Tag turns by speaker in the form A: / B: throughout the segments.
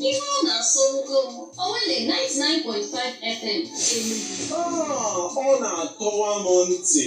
A: Ihe ọ na-asọ ogo m, Owelle 99.5 FM Enugu. Ah, ọ na-atọwa m ntị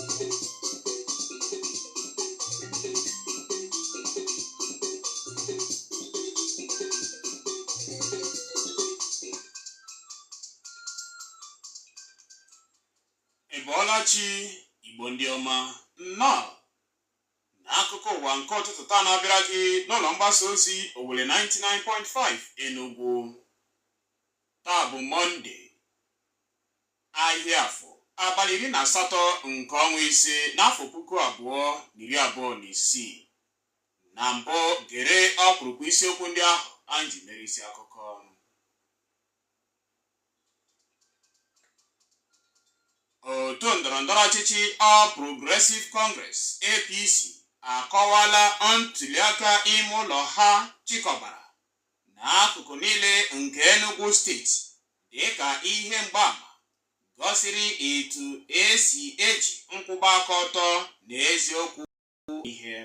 A: Ị bọọla chi Igbo ndị ọma nnọọ n'akụkọ ụwa nke ụtụtụ taa na-abịara gị n'ụlọ mgbasa ozi Owelle 99.5 Enugu taa bụ Mọnde ahịa Afọ abalị iri na asatọ nke ọnwa ise n'afọ puku abụọ na iri abụọ na isii na mbụ gere ọkpụrụkpụ isiokwu ndị ahụ anyị ji mere isi akụkọ otu ndọrọndọrọ ọchịchị All Progressive Congress APC akọwala ntuliaka ime ụlọ ha chịkọbara n'akụkụ niile nke Enugu steeti dịka ihe mgbaama gọsiri etu e si eji nkwụba aka ọtọ na eziokwu ihe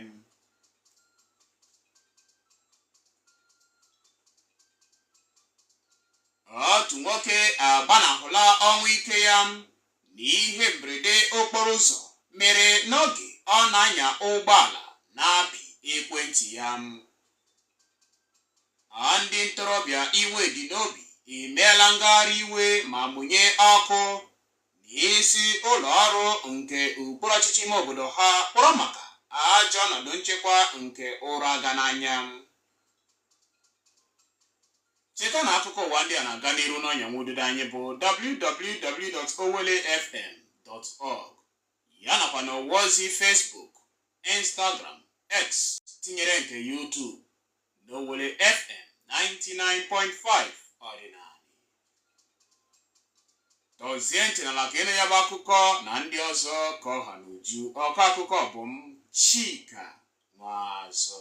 A: otu nwoke agbanahụla ọnwụ ike ya n'ihe mberede okporo ụzọ mere n'oge ọ na-anya ụgbọala na-apị ekwentị ya. A ndị ntorobịa iwe dị n'obi emeela ngagharị iwe ma mụnye ọkụ n'isi ụlọ ọrụ nke okpuru ọchịchị ime obodo ha kpọrọ maka ajọ ọnọdụ nchekwa nke ụra aga n'anya. Cheta na akụkọ ụwa ndị a na-aga n'iru n'ọnya nwa ududo anyị bụ www.owellefm.org ya nakwa na ọwa ozi Facebook, Instagram, X tinyere nke YouTube n'Owelle FM 99.5 ọdịnala. Tọzie ntị n'ala ka ị nụ ya bụ akụkọ na ndị ọzọ ka ọ ha n'uju. Ọkọ akụkọ bụ m Chika Nwazọ.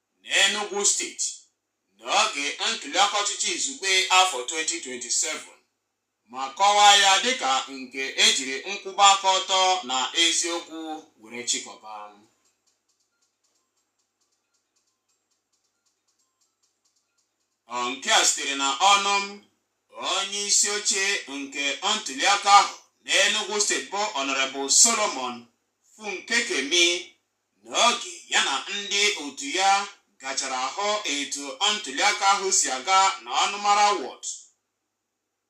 A: N'Enugwu steeti, n'oge ntuliaka ọchịchị izugbe afọ 2027 ma kọwaa ya dịka nke e jiri nkwụba aka ọtọ na eziokwu were chịkọba. Ọ nke a sitere na ọnụ onye isi oche nke ntuliaka ahụ n'Enugwu steeti bụ Honorable Solomon Funkekeme N'oge ya na ndị otu ya gachara hụ etu ntuliaka ahụ si aga na ọnụmara wọd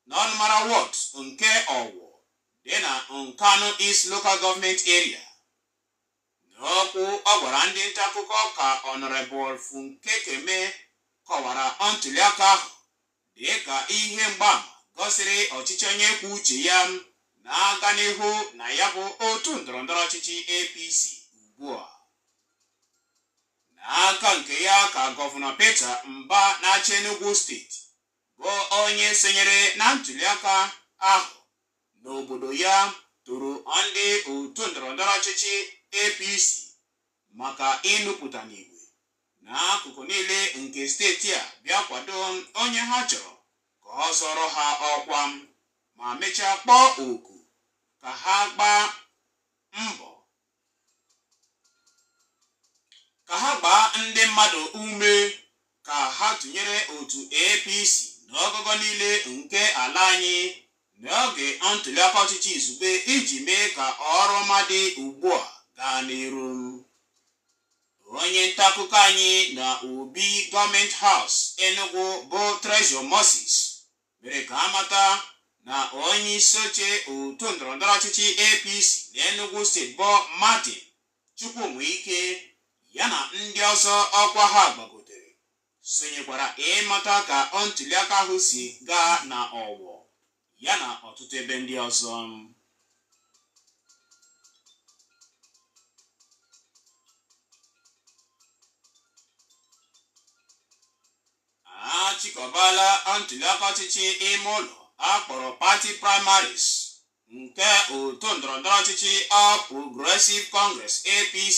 A: n'ọnụmara wọd nke Ọwọ dị na Nkanu East Local Government Area. N'okwu ọ gwara ndị ntaakụkọ ka Honorable Funkekeme kọwara ntuliaka ahụ Dị ka ihe mgbaama gosiri ọchịchị onye kwuo uche ya na-aga n'ihu na ya bụ otu ndọrọndọrọ ọchịchị APC ugbu a. N'aka nke ya ka gọvanọ Peter Mba na-achị Enugu steeti bụ onye sonyere na ntuliaka ahụ n'obodo ya toro ndị otu ndọrọndọrọ ọchịchị APC maka ịnupụta n'igwe n'akụkụ niile nke steeti a bịa kwado onye ha chọrọ ka ọ zọrọ ha ọkwa ma mechaa kpọọ oku ka ha gbaa mbọ ka ha gbaa ndị mmadụ ume ka ha tụnyere otu APC n'ogogo niile nke ala anyị n'oge ntuliaka ọchịchị izugbe iji mee ka ọrụ ọma dị ugbu a gaa n'iru. Onye ntaakụkọ anyị na Obi Gọọmenti Haus Enugu bụ Treasure Moses mere ka a mata na onye isi oche otu ndọrọndọrọ ọchịchị APC na Enugu steeti bụ Martin Chukwunweike ya na ndị ọzọ ọkwa ha gbagotere sonyekwara ịmata ka ọ ntuliaka ahụ si gaa na Ọwọ ya na ọtụtụ ebe ndị ọzọ. A chịkọbala ntuliaka ọchịchị ime ụlọ a kpọrọ pati primaries nke otu ndọrọndọrọ ọchịchị All Progressive Congress APC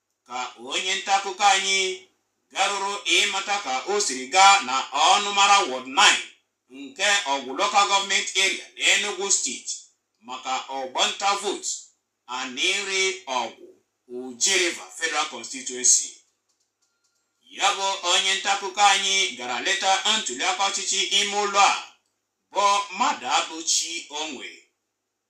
A: ka onye nta akụkọ anyị garuru ịmata ka o siri gaa na ọnụmara wọd 9 nke Ọgwụ lokal gọọmenti eria na Enugu steeti maka ọgbọ ntụ vootu Anịnrị Ọgwụ Oji River Federal Constituency ya bụ onye nta akụkọ anyị gara leta ntuliaka ọchịchị ime ụlọ a bụ Mmadụabụchi Onwe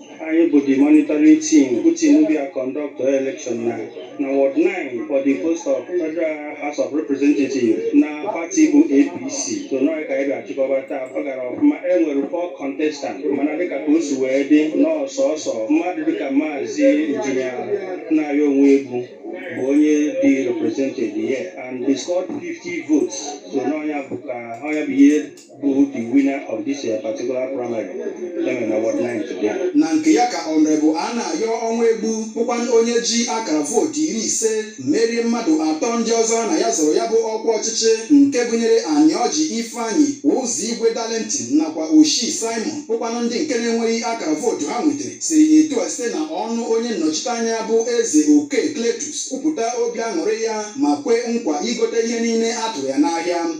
A: anyị bụ the monitoring team bụ team bịa conduct election na na ward 9 for the post of federal house of representative na pati bụ apc so nọọ ka anyị ga-achịkọba taa ọ gara ọfụma e nwere four contestant mana dịka ka o si wee dị na ọ sọsọ mmadụ dịka maazị injinia anayọ ọnwụegbu bụ onye dị represented here and he scored 50 votes so n'ọ nya bụ ka ọ nya bụ ihe bụ the winner of this uh, particular primary n'ime ward nine today. na nke ya ka honourable anayọ ọnwụegbu bụkwanụ onye ji akara vootu iri ise merie mmadụ atọ ndị ọzọ na ya zọrọ ya bụ ọkwa ọchịchị nke gụnyere anịọji ifeanyị ụzọigwe darlington nakwa oshi simon bụkwanụ ndị nke na-enweghị akara vootu ha nwetara siri etu a site na ọnụ onye nnọchite anya bụ eze oke cletus kwupụta obi aṅụrị ya ma kwe nkwa igote ihe niile a tụrụ ya n'ahịa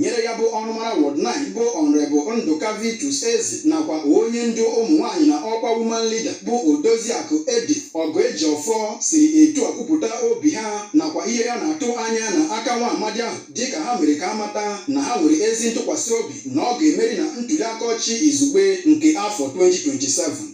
A: nyere ya bụ ọnụmara ward 9 bụ honourable ndụka vitus eze nakwa onye ndu ụmụ nwaanyị na ọkwa woman leader bụ odoziakụ edi ọgụejiọfọ siri etu a kwupụta obi ha nakwa ihe ha na-atụ anya na aka nwa amadi ahụ dịka ha mere ka a mata na ha nwere ezi ntụkwasị obi na ọ ga-emeri na ntuliaka ọchịchị izugbe nke afọ 2027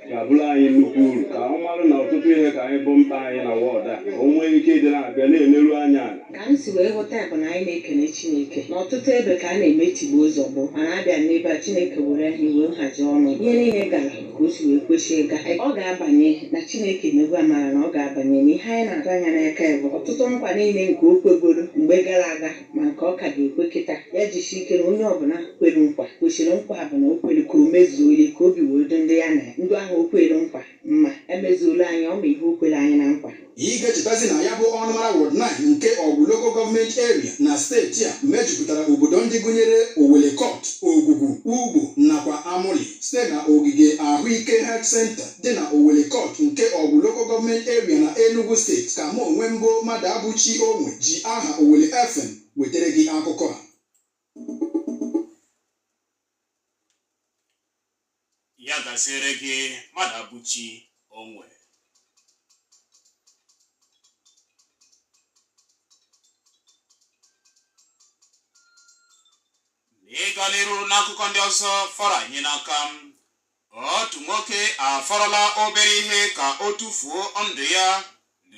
A: ga-abụrụ anyị nnukwu uru ka ọ marụ na ọtụtụ ihe ka anyị bụ mkpa anyị na ward a o nwee ike ịdị na-abịa na-emerụ anyị ala ka anyị si wee ghọta ya bụ na anyị na-ekele chineke n'ọtụtụ ebe ka a na-eme tigbuo zọgbuo mana a bịa n'ebe a chineke mere e nwee nhazi ọnụ ihe niile gara ka o si wee kwesị ịga ọ ga-abanye na chineke emego amara na ọ ga-abanye na ihe anyị na-atụ anya n'aka ya bụ ọtụtụ nkwa niile nke o kwegoro mgbe gara aga ma nke ọ ka ga-ekwe kịta ya jisie ike na onye ọbụla kwere nkwa kwesịrị nkwa ọbụla o kwere ka o mezuo ya ka obi wee dị ndị ya na ndị ahụ o kwere nkwa mma emezuola anyị ọ ma ihe o kwere anyị na nkwa Ị ga-echetazi na ya bụ ọnụmara Ward 9 nke Ọgwụ Local Government Area na steeti a mejupụtara obodo ndị gụnyere Owelli Court, Ogugu, Ugbo nakwa Amoli site na ogige ahụike Health Center dị na Owelli Court nke Ọgwụ Local Government Area na Enugu Steeti ka mụ onwe m bụ Mmadụabụchi Onwe ji aha Owelle FM wetara gị akụkọ a. ya gaziere gị Mmadụabụchi Onwe n'ịga n'iru n'akụkọ ndị ọzọ fọrọ anyị n'aka m otu nwoke afọrọla obere ihe ka o tufuo ndụ ya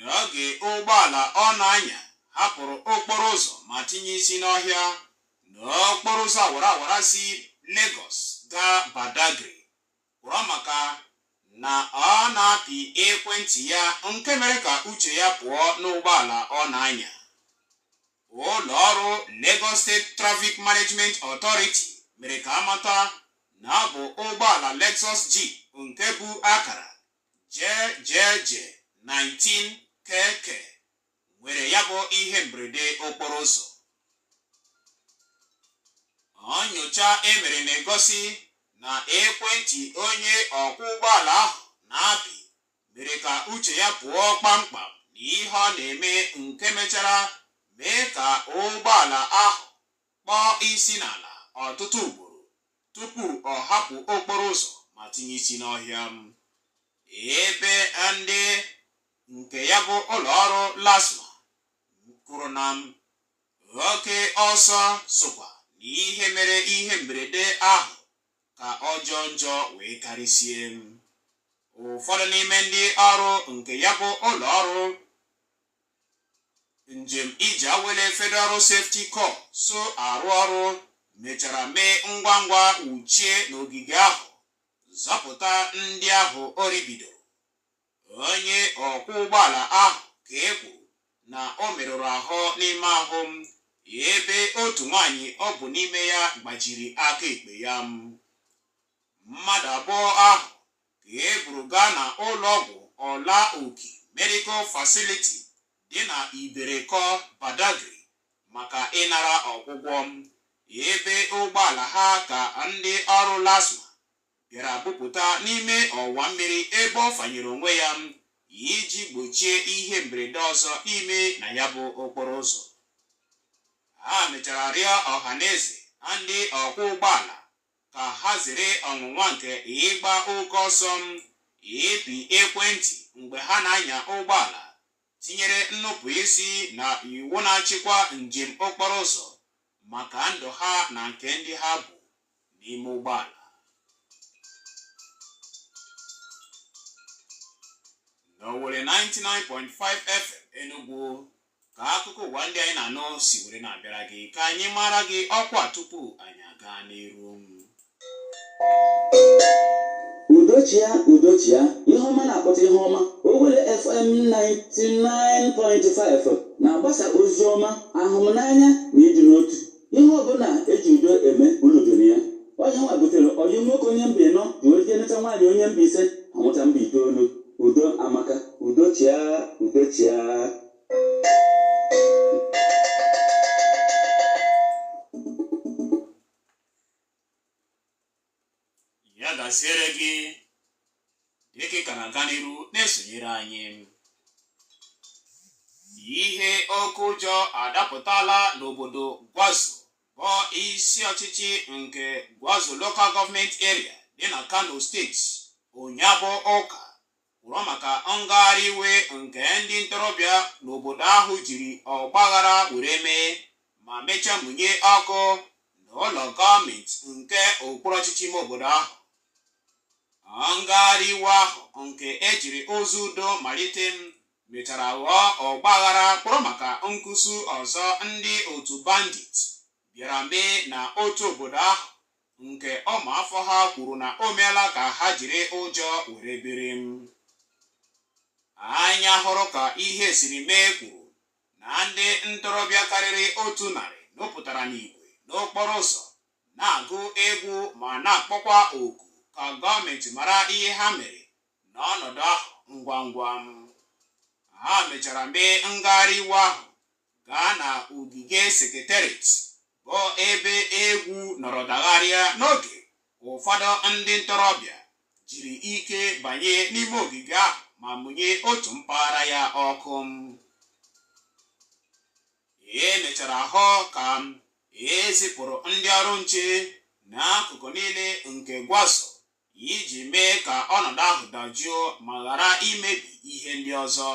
A: n'oge ụgbọala ọ na-anya hapụrụ okporo ụzọ ma tinye isi n'ọhịa n'okporo ụzọ awara awara si Lagos gaa Badagry kwụrụ maka na ọ na-apị ekwentị ya nke mere ka uche ya pụọ n'ụgbọala ọ na-anya ụlọ ọrụ Lagos State Traffic Management Authority mere ka amata na ọ bụ ụgbọala Lexus Jeep nke bu akara JJJ 19 KK nwere ya bụ ihe mberede okporo ụzọ nyocha e mere na-egosi na ekwentị onye ọkwọ ụgbọala ahụ na-apị mere ka uche ya pụọ kpamkpam na ihe ọ na-eme nke mechara mee ka ụgbọala ahụ kpọọ isi n'ala ọtụtụ ugboro tupu ọ hapụ okporo ụzọ ma tinye isi n'ọhịa m ebe ndị nke ya bụ ụlọ ọrụ LASTMA kwuru na m oke ọsọ sokwa na ihe mere ihe mberede ahụ ka ọ jọọ njọ wee karịsie ụfọdụ n'ime ndị ọrụ nke ya bụ ụlọ ọrụ njem ije awele Federal Road Safety Corps so arụ ọrụ mechara mee ngwa ngwa wuchie n'ogige ahụ zọpụta ndị ahụ o ribidoro Onye ọkwọ ụgbọala ahụ ka e kwuru na o merụrụ ahụ n'ime ahụ m ebe otu nwaanyị o bu n'ime ya gbajiri aka ekpe ya. Mmadụ abụọ ahụ ka e buru gaa na ụlọọgwụ Ọla Oki Medical Facility dị na Iberekọ, Badagry maka ịnara ọgwụgwọ ebe ụgbọala ha ka ndị ọrụ LASTMA bịara bupụta n'ime ọwa mmiri ebe ọ fanyere onwe ya iji gbochie ihe mberede ọzọ ime na ya bụ okporo ụzọ ha mechara rịọ ọha na eze na ndị ọkwọ ụgbọala ka ha zere ọnwụnwa nke ịgba oke ọsọ ịpị ekwentị mgbe ha na-anya ụgbọala tinyere nnupụ isi na iwu na-achịkwa njem okporo ụzọ maka ndụ ha na nke ndị ha bu n'ime ụgbọala. N'Owelle 99.5 FM Enugu ka akụkọ ụwa ndị anyị na-anụ si were na-abịara gị ka anyị mara gị ọkwa tupu anyị agaa n'iru. udo chịa udo chịa ihe ọma na-akpọta ihe ọma Owelle FM 99.5 na-agbasa ozi ọma ahụmnanya na ịdị n'otu ihe ọbụla e ji udo eme unu jụrụ ya onye nwa butere ọyị nwoke onye mba ịnọ ji oje neta nwaanyị onye mba ise a mụta mba itoolu udo amaka udo chịa udo chịa ya gaziere gị dịka ị ka na-aga n'iru na-esonyere anyị ihe oke ụjọ adapụtala n'obodo gwarzo bụ isi ọchịchị nke gwarzo local government area dị na kano steeti ụnyaahụ ụka kpụrụ maka ngagharị iwe nke ndị ntorobịa n'obodo ahụ jiri ọgbaghara were mee ma mechaa mụnye ọkụ n'ụlọ gọọmenti nke okpuru ọchịchị ime obodo ahụ ngagharị iwe ahụ nke e jiri ụzọ udo malite mechara ghọọ ọgbaghara kpụrụ maka nkusu ọzọ ndị otu bandit bịara mee na otu obodo ahụ nke ụmụafọ ha kwuru na o meela ka ha jiri ụjọ were biri anya hụrụ ka ihe siri mee kwuru na ndị ntorobịa karịrị otu narị nụpụtara n'igwe n'okporo ụzọ na-agụ egwu ma na-akpọkwa oku ka gọọmenti mara ihe ha mere n'ọnọdụ ahụ ngwa ngwa ha mechara mee ngagharị iwe ahụ gaa na ogige secretariat bụ ebe egwu nọrọ dagharịa n'oge ụfọdụ ndị ntorobịa jiri ike banye n'ime ogige ahụ ma mụnye otu mpaghara ya ọkụ e mechara hụ ka e zipụrụ ndị ọrụ nche n'akụkụ niile nke gwarzo iji mee ka ọnọdụ ahụ dajụọ ma ghara imebi ihe ndị ọzọ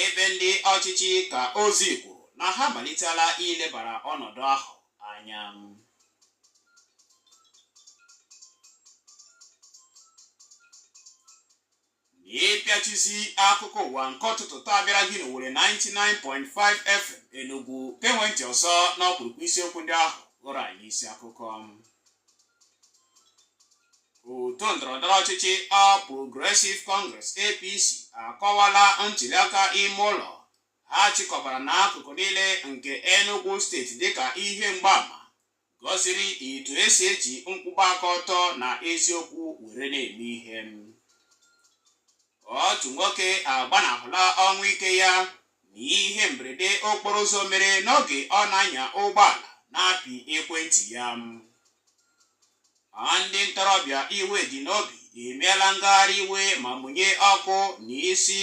A: ebe ndị ọchịchị ka ozi kwuru na ha amalitela ilebara ọnọdụ ahụ anya n'ịpịachizi akụkọ ụwa nke ụtụtụ taa bịara gị n'Owelle 99.5 FM Enugu gewe ntị ọzọ n'ọkpụrụkpụ isiokwu ndị ahụ ghọrọ anyị isi akụkọ otu ndọrọndọrọ ọchịchị All Progressive Congress APC akọwala ntuliaka ime ụlọ ha chịkọbara n'akụkụ niile nke Enugu steeti dịka ihe mgbaama gosiri etu e si eji nkwụba aka ọtọ na eziokwu were na-eme ihe otu nwoke agbanahụla ọnwụ ike ya na ihe mberede okporo ụzọ mere n'oge ọ na-anya ụgbọala na-apị ekwentị ya ndị ntorobịa iwe dị n'obi emeela ngagharị iwe ma mụnye ọkụ n'isi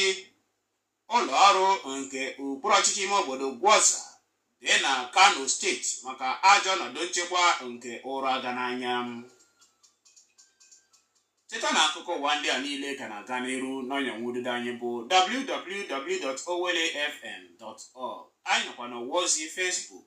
A: Ụlọ ọrụ nke okpuru ọchịchị ime obodo Gwarzo dị na Kano steeti maka ajọ ọnọdụ nchekwa nke ụra aga n'anya. Cheta na akụkọ ụwa ndị a niile ka na-aga n'iru n'ọnya nwa ududo anyị bụ www.owellefm.org. Anyị nọkwa n'ọwa ozi Facebook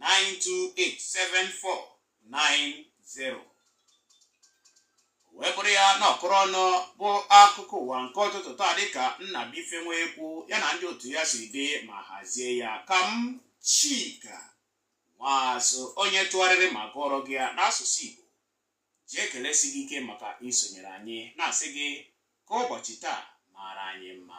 A: 9287490 wee bụrụ ya na ọkụrụ ọnụ bụ akụkọ ụwa nke ụtụtụ taa dịka Nnabuife Nwaekwu ya na ndị otu ya si dee ma hazie ya ka m Chika Nwaazụ onye tụgharịrị ma gụọrọ gị ya n'asụsụ Igbo ji ekelesi gị ike maka isonyere anyị na-asị gị ka ụbọchị taa maara anyị mma